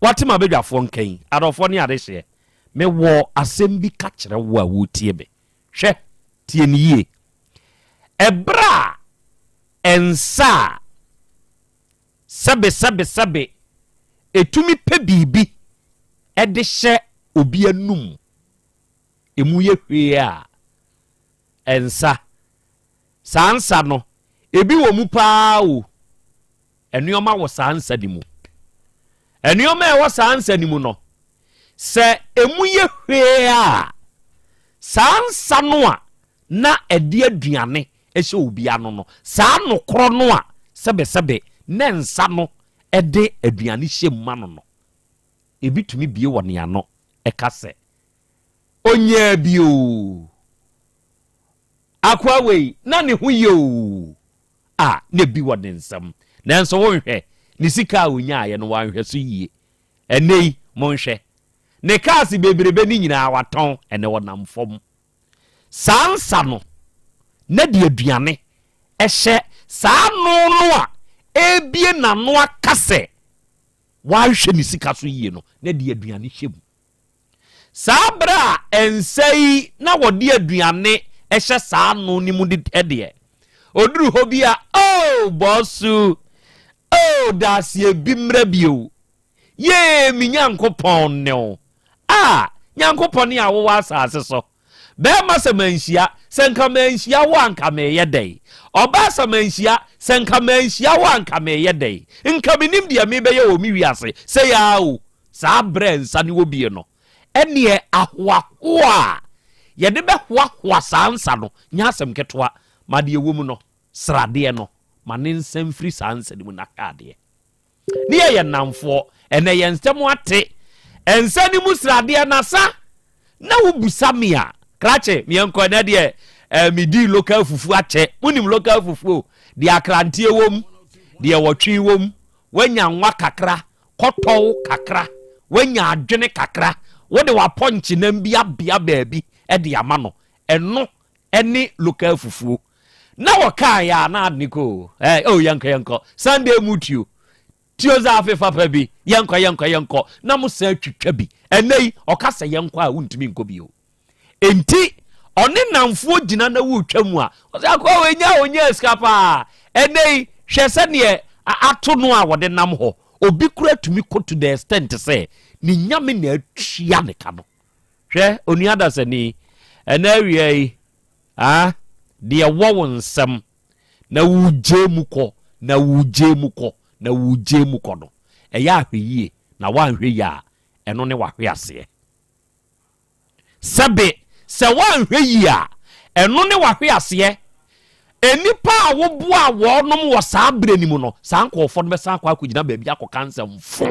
Wate ma badwafoɔ nka yi, adɔfoɔ ne adehyeɛ. Mewɔ asɛm bi ka kyerɛ wo a woretie me. Hwɛ, tie no yie. Ɛberɛ a ɛnsɛ a sɛbesɛbesɛbe ɛtumi pɛ biribi de hyɛ obi anum, ɛmu yɛ hwee a ɛnsa Saa nsa no, ebi wɔ mu paa o. Nneɛma wɔ saa nsa no mu. Nneɛma a ɛwɔ saa nsa no mu no, sɛ emu yɛ hwee a, saa nsa no a na ɛde aduane hyɛ obi ano no, saa nokorɔ no a sɛbesɛbe na nsa no de aduane hyɛ mu ma no no, ebi tumi bie wɔ ne ano ka sɛ, Onyaa bi o! Akoa wei na ne ho ye oo, a na bi wɔ ne nsam. Nanso wonhwɛ, ne sika a ɔnyaaeɛ no wanhwɛ so yie. Ɛnnɛ yi, monhwɛ, ne cars bebrebe no nyinaa watɔn, ɛnnɛ ɔnam fam. Saa nsa no, na de aduane hyɛ saa ano no a ɛrebue n'ano aka sɛ wanhwɛ ne sika so yie no, na de aduane hyɛ mu. Saa bere a ɛnsɛ yi na wɔde aduane hyɛ saa ano no mu deɛ, oduru hɔ bi a, Oh, Bosu! Oh, Daaseɛ bi mmra bio! Yee, me Nyankopɔn ne wo! Ah, Nyankopɔn a wowɔ asase so, Bɛɛma sɛ manhyia, sɛ nka manhyia wo a nka meyɛ dɛn? Ɔbaa sɛ manhyia, sɛ nka manhyia wo a nka meyɛ dɛn? Nka menim deɛ mebɛyɛ wɔ me wiase sei aa o Saa berɛ a nsa ne wɔ bie no Ɛneɛ ahoahoa a yɛde bɛhoahoa saa nsa no nyɛ asɛm ketewa Ma deɛ ɛwɔ mu no sradeɛ no Ma ne nsa mfiri saa nsa no mu na hwɛ adeɛ Ne yɛ yɛ nnamfoɔ. Ɛnɛ yɛn nsɛm ate. Nsa no mu sradeɛ na sa na wo busa me a. Krakye me yɛnkɔ ɛnɛ deɛ eh, me dii local fufu akyɛ. Mo nim local fufu o. Deɛ akranteɛ wom, deɛ wɔtwe wom. Wanya nwa kakra, kɔtɔw kakra, wanya adwene kakra. Wo de wapɔnkye nam bi abea baabi de ama no. Ɛno ɛne local fufuo. Na wɔkaa yɛ a na ade ne kɔ o. Ɛɛ o yɛnkɔ yɛnkɔ. Sunday mu tuo. Tuo dza afe fapa bi. Yɛnkɔ yɛnkɔ yɛnkɔ. Na mo san twitwa bi. Ɛnɛ yi ɔka sɛ yɛnkɔ a wontumi nkɔ bio. Enti ɔne nnamfoɔ gyina na wotwa mu a ɔsɛ akoa wei nya a ɔnyaa sika paa. Ɛnɛ yi hwɛ sɛdeɛ ato no a wɔde nam hɔ. Obi kura tumi kɔ to the extent sɛ ne nyame na atua ne ka no. Hwɛ, onua dasani, ɛnnɛ awia yi, ah, deɛ ɛwɔ wo nsam, na woregye mu kɔ, na woregye mu kɔ, na woregye mu kɔ no, ɛyɛ ahwɛyie, na woanhwɛ yie a, ɛno ne w'ahweaseɛ. Sɛbe, sɛ woanhwɛ yie a, ɛno ne w'ahweaseɛ. Nnipa a woboaa wɔnom wɔ saa berɛ no mu no, saa nkorɔfoɔ no bɛsan akɔ akɔgyina baabi akɔka nsɛm fo.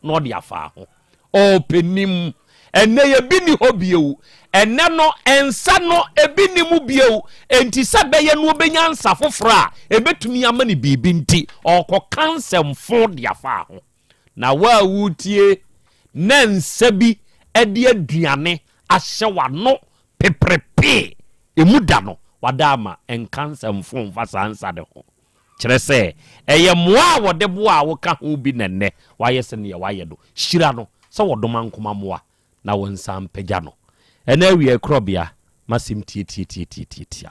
na ɔde afaa ho. Oh, panin! Ɛnnɛ yɛ bi nni hɔ bio. Ɛnnɛ no, nsa no, ebi nni mu bio. Enti sɛ ɛbɛyɛ na obenya nsa foforo a ebetumi ama no biribi nti, ɔrekɔka nsɛm fõ de afaa ho. Na wo a wuretie, na nsa bi de aduane ahyɛ w'ano peperepe, emu da no, wada ama, nka nsɛm fõ mfa saa nsa no ho. Kyerɛ sɛ, ɛyɛ mmoa a wɔde boa a woka ho bi na nnɛ wɔayɛ sɛnea wɔayɛ no. Hyira no sɛ wɔdoma nkoma mmoa na wɔnsan mpagya no. Ɛna awiakorɔbea, m'asɛm tiatiatiatiatia.